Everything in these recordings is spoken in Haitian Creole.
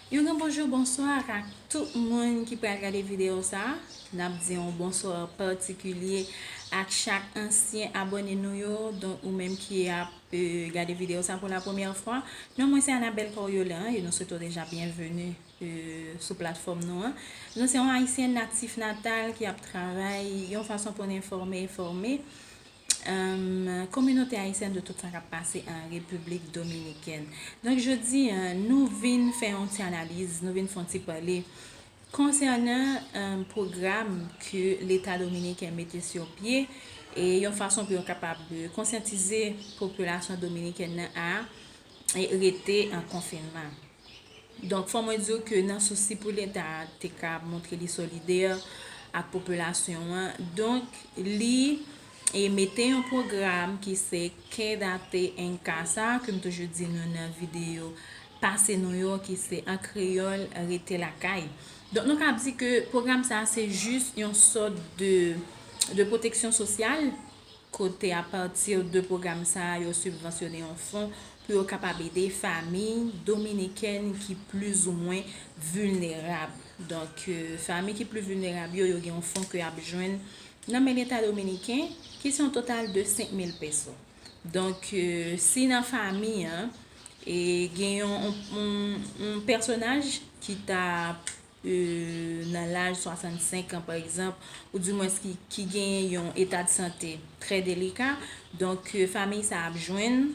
Yon gran bonjou bonswa ak ak tout moun ki pral gade videyo sa Nap di yon bonswa patikilye ak chak ansyen abòne nou yo Donk ou menm ki ap gade videyo sa pou la premyè fwa Non mwen se Anabelle Coriolan e nou swete w deja byenveni sou platfòm nou an Nou se yon ayisyen natif natal ki ap travay yon fason pou n enfòme e fòme Kominote Ayisyèn de tout sa kap pase an Repiblik Dominikèn. Donk jodi a, nou vin fè yon ti analiz, nou vin fè yon ti pale konsènan pwogram ke leta dominiken mete sou pye e yon fason pou yo kapab konsyantize popilasyon dominikèn nan a rete an konfinman. Donk fò mwen di w ke nan sousi pou leta a te ka montre li solidè ak popilasyon an, donk li mete yon pwogram ki se Quédate en Casa ke m toujou di nou nan videyo pase nou yo ki se an kreyòl Rete Lakay. Donk nou kab di ke pwogram sa a se jis yon sòt de pwoteksyon sosyal kote apati de pwogram sa a yo sibvansyone yon fon pou yo kapab ede famiy dominikèn ki plizoumwen vilnerab. Donk, famiy ki pli vilnerab yo, yo gen yon fon ke y ap jwenn nan men Leta dominiken, ki se yon total de 5 mil peso. Donk, si nan famiy an, gen yon pèsonaj ki ta nan laj 65 an pa egzanp, ou di mwens ki genyen yon eta de sante trè delika, donk famiy sa ap jwenn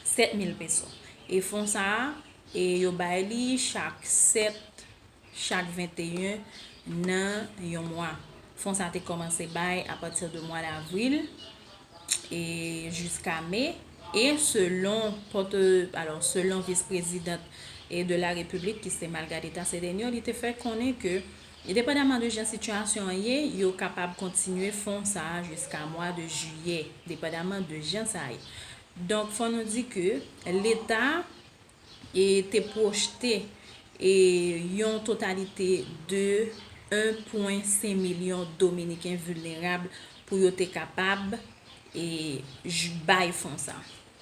7 mil peso. E fon sa a, e yo bay li chak 7, chak 21 nan yon mwa. Fon sa te kòmanse bay apati de mwa davril. e jiska me e selon pote alò selon vis prezidant e de la repiblik ki se Malgadeta Cedeño li te fè konnen ke endepandaman de jan sitiyasyon an ye yo kapab kontinye fon sa jiska mwa de jiyè depandaman de jan sa ye donk fò nou di ke leta e te pwojte e yon totalite de 1,5 milyon Dominiken vilnerab pou yo te kapab e bay fon sa.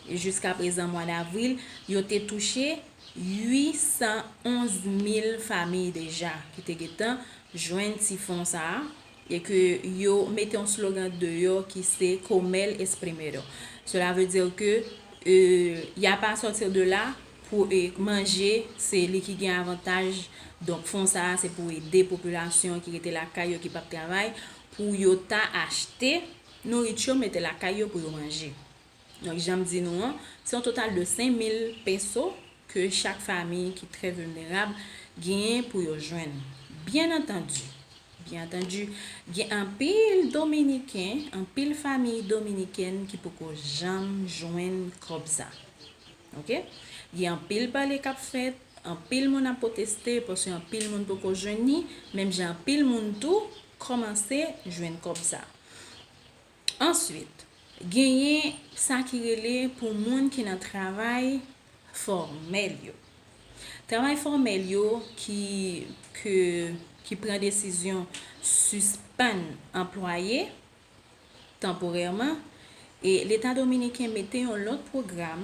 E jiska prezan mwa davril, yo te touche 811 mil famiy deja ki te gentan jwenn ti fon sa a, e ke yo mete yon slogan deyò ki se Como el es primero. Cela veut dire que il y a pas à sortir de là pou manje se li ki gen avantaj donk fon sa a se pou ede popilasyon ki rete lakay yo ki pap travay pou yo ta achte nouriti yo mete lakay yo pou yo manje. Donk janm di nou an, se yon total de 5000 peso ke chak fami ki trè vilnerab genyen pou yo jwenn. Byen antandi, byen antandi, gen anpil dominiken, anpil famiy dominikèn ki poko janm jwenn kòb sa. Ok. Gen anpil pale kap fèt, anpil moun ap pwoteste paske anpil moun poko jwenn ni, menm jan anpil moun tou kòmanse jwenn kòb sa. Answit, genyen sa ki rele pou moun ki nan travay fòmèl yo. Travay fòmèl yo ki ke ki pran desizyon sispann anplwaye tanporèman e Leta Dominiken mete yon lòt pwogram,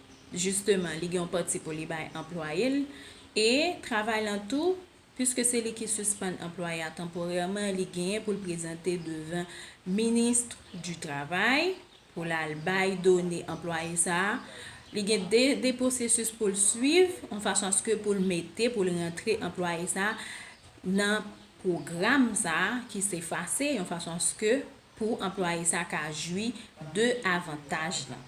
Jisteman, li gen yon pati pou li bay anplwaye l. E, travay lan tou, piske se li ki sispann anplwaye a tanporèman, li genyen pou l prezante devan Ministre du Travail pou l al bay done anplwaye sa a. Li gen de, de pwosesis pou l suiv, yon fason aske pou l mete, pou l rantre anplwaye sa a nan pwogram sa a ki se FACÉ, yon fason aske pou anplwaye sa a ka jwi de avantaj lan.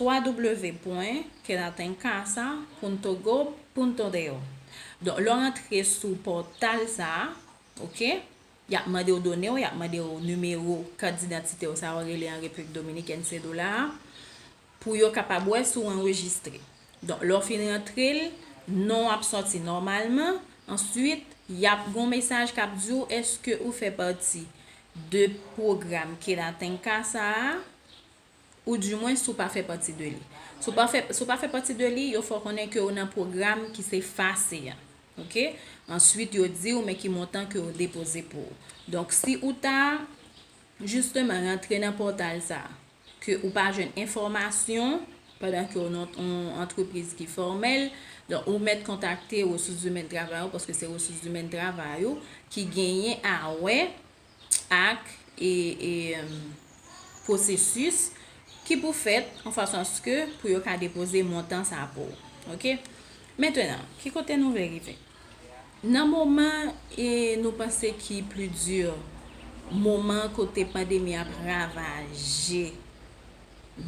www.quedatencasa.togo.do Donk lè w rantre sou pòtal sa a, ok, y ap mande w done w, y ap mande w nimewo kat didantite w sa yo rele an Repiblik Dominikèn sedola a, pou yo kapab wè si w anrejistre. Donk lè w fin rantre l, non w ap sòti nòmalman, answit y ap gen yon mesaj k ap di w èske ou fè pati de pwogram Quedatenca sa a, ou di mwen si w pa fè pati de li. Si w pa fè pati de li, yo fè w konnen ke w nan pwogram ki se FACE a. Ok. Answit yo di w men ki montan ke yo depoze pou ou. Donk si ou ta jisteman rantre nan pòtal sa a, ke ou pa jwenn enfòmasyon, pandan ke w nan yon antrepriz ki fòmèl, donk ou mèt kontakte resous zimèn travay ou, paske se resous zimèn travay ou ki genyen a wè ak pwosesis ki pou fèt an fason aske pou yo ka depoze montan sa pou ou. Ok. Mentenan, ki kote nou vle rive? Nan moman e nou panse ki pli di, moman kote pandemi ap ravaje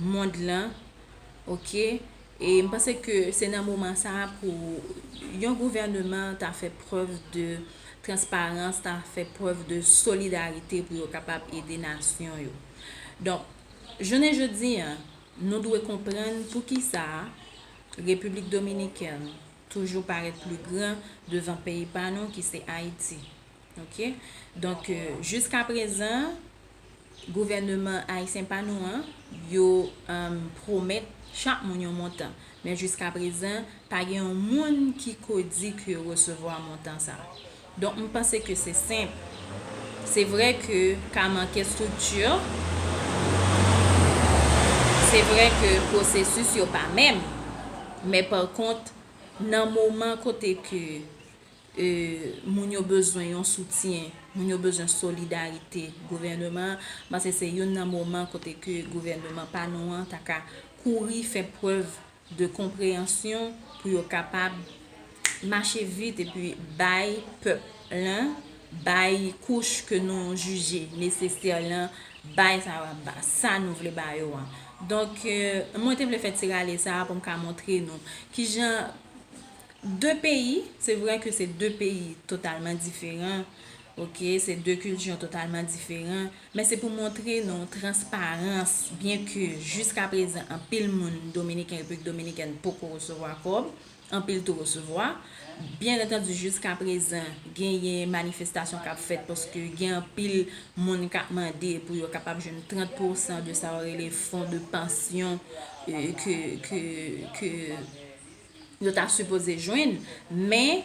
mond lan, ok, E m panse ke se nan moman sa a pou yon gouvèneman ta fè prèv de transparans, ta fè prèv de solidarite pou yo kapab ede nasyon yo. Donk, jounen jodi a, nou dwe konprann pou ki sa Repiblik Dominikèn toujou parèt pli gran devan peyi pa nou ki se Ayiti. Ok donk jiska prezan gouvèneman ayisyen pa nou an yo pwomèt chak moun yon montan men jiska prezan pa gen yon moun ki ko di ke yo resevwa montan sa donk m panse ke se senp se vre ke ka manke estrikti se vre ke pwosesis yo pa menm men pa kont nan moman kote ke Moun yo bezwen yon soutyen, moun yo bezwen solidarite gouvèneman an, m panse se youn nan moman kote ke gouvèneman pa nou an ta ka kouri fè prèv de konpreyansyon pou yo kapab mache vit epi bay pèp lan, bay kouch ke nou jije nesesè lan, bay sa yo ap ba, sa nou vle ba yo an. Donk, mwen te vle fè ti rale sa a pou m ka montre nou kijan. 2 peyi, se vre ke se 2 peyi totalman diferan, ok, se 2 kiltyon totalman diferan, men se pou montre nou transparans, byen ke jiska prezan anpil moun dominiken, Repiblik Dominikèn poko resevwa kòb, anpil tou resevwa, byen antandi jiska prezan genyen manifestasyon kap fèt paske gen anpil moun kap mande pou yo kapab jwenn 30 pousan de sa yo rele fon de pansyon ke. yo ta sipoze jwenn men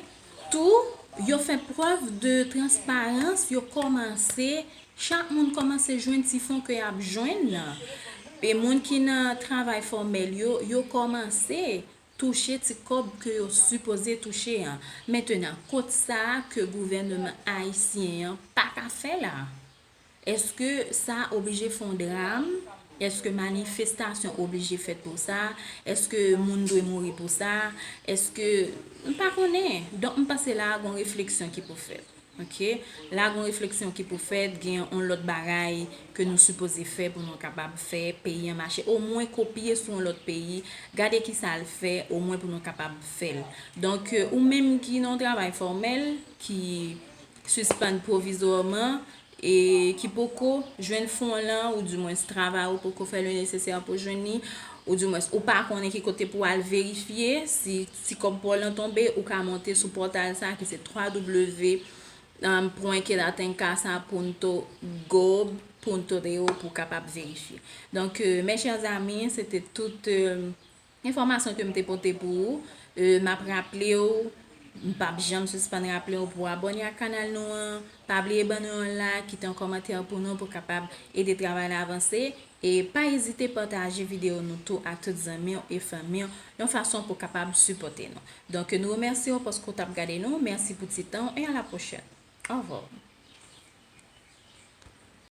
tou yo fè prèv de transparans yo kòmanse chak moun kòmanse jwenn ti fon ke yap jwenn nan e moun ki nan travay fòmèl yo yo kòmanse touche ti kòb ke yo sipoze touche an mentenan kot sa ke gouvèneman ayisyen an paka fè la. Eske sa oblije fon dram? Eske manifestasyon oblije fèt pou sa? Eske moun dwe mouri pou sa? Eske, m pa konnen. Donk m panse la a gon refleksyon ki pou fèt. Ok. La a gon refleksyon ki pou fèt, gen on lòt bagay ke nou sipoze fè pou nou kapab fè peyi an mache. O mwen kopye sou on lòt peyi, gade ki sa l fè, o mwen pou nou kapab fè l. Donk ou menm ki nan on travay fòmèl, ki sispann pwovizwaman e ki poko jwenn fon w lan, oudimwens travay ou poko fè le nesesè pou w jwenn li, oudimwens ou pa konnen ki kote pou w al verifye si ti kòb pa w lan tonbe, ou ka monte sou pòtal sa ki se www.quedatencasapuntogob. Punto de pou w kapab verifye. Donk, mes chers amis, se te tout Enfòmasyon ke m te pote pou ou, m ap raple w, m p ap janm sispann raple w pou w abòne ak kanal nou an, pa bliye ban nou yon like, kite yon kòmantè pou nou pou kapab ede travay la avanse, e pa ezite pataje videyo nou tou ak tout zanmi w e fanmi w yon fason pou kapab sipòte nou. Donk nou remèsye w paske w t ap gade nou, mèsi pou ti tan w e a la pwochèn. Au revoir.